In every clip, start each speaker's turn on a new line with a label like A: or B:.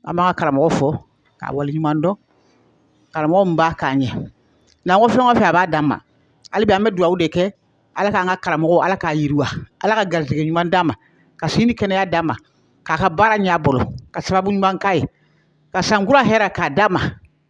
A: an b'an ka karamɔgɔ fo k'a waleɲuman dɔn karamɔgɔ min b'a k'a ɲɛ n'an ko fɛn o fɛn a b'a d'an ma hali bi an bɛ dugawu de kɛ ala k'an ka karamɔgɔ ala k'a yiriwa ala ka garijɛgɛ ɲuman d'a ma ka si ni kɛnɛya d'a ma k'a ka baara ɲɛ a bolo ka sababu ɲuman k'a ye ka san kura hɛrɛ k'a d'a ma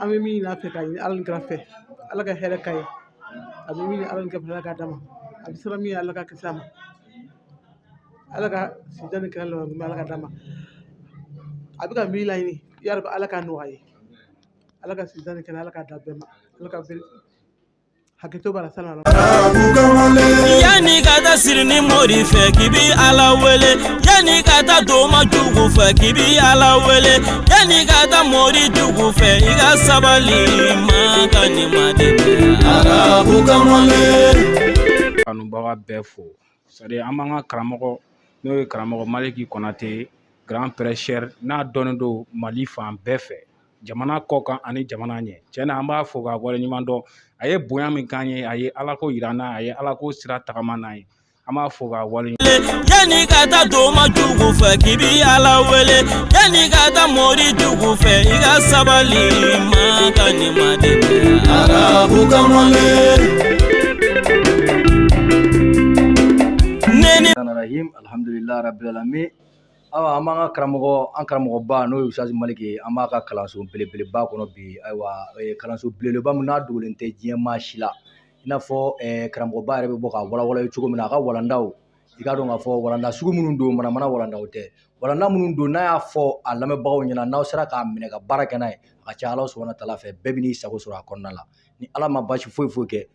A: an bɛ min ɲini a fɛ k'a ɲini ala ni kira fɛ ala ka hɛrɛ k'a ye a bɛ min ala ni kira fɛ ala k'a d'a ma a bɛ siran min ɲɛ ala k'a kisi a ma ala ka sijan ni kɛnɛya laban min ala k'a d'a ma a bɛ ka min laɲini yarabi ala k'a nɔgɔya a ye ala ka sijan ni kɛnɛya ala k'a d'an bɛɛ ma ala ka bɛɛ Hakɛto b'a la sani a ka Arabu kamalen, Yanni ka
B: taa siri ni mori fɛ k'i bi Ala wele yanni ka taa doma jugu fɛ k'i bi Ala wele yanni ka taa mori jugu fɛ i ka sabali Maka ni Madinɛ Arabu kamalen.
C: kanubaga bɛɛ fo c'est-à-dire an b'an ka karamɔgɔ n'o ye karamɔgɔ maliki kɔnate grand prêcheur n'a dɔnnen don mali fan bɛɛ fɛ jamana kɔ kan ani jamana ɲɛ tiɲɛ na an b'a fo k'a waleɲuman dɔn a ye bonya min k'an ye a ye ala ko yira an na a ye ala ko sira tagama n'an ye an b'a fo k'a wale yanni ka
B: taa doma jugu fɛ k'i bi ala wele yanni ka taa mori jugu fɛ i ka sabali maka ni madinɛ
D: arabu kamalen alhamdulilayi rabilalamin awa an b'an ka karamɔgɔ an karamɔgɔba n'o ye ustaz maliki ye an b'a ka kalanso belebeleba kɔnɔ bi ayiwa eh, kalanso belebeleba min n'a dogolen tɛ diɲɛ maa si la i n'a fɔ eh, karamɔgɔba yɛrɛ bɛ bɔ ka walawala ye cogo min na a ka walandaw i k'a dɔn k'a fɔ walanda sugu minnu don manamana walandaw tɛ walanda minnu don n'a y'a fɔ a lamɛnbagaw ɲɛna n'aw sera k'a minɛ ka baara kɛ n'a ye a ka ca ala subahana taala fɛ bɛɛ bɛ n'i sago sɔrɔ a kɔnɔna la ni ala ma basi foyi foyi kɛ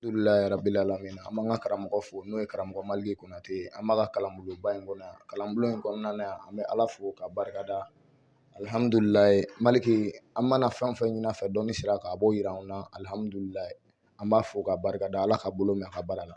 B: Alhamdulilayi rabil
E: alamin an b'an ka karamɔgɔ fo n'o ye karamɔgɔ maliki konate an b'a ka kalanbulonba in kɔnɔ yan kalanbulon in kɔnɔna na yan an bɛ ala fo k'a barika da alihamudulilayi maliki an mana fɛn o fɛn ɲini a fɛ dɔnni sira kan a b'o yira an na alihamudulilayi an b'a fo k'a barika da ala k'a bolo mɛɛn a ka baara la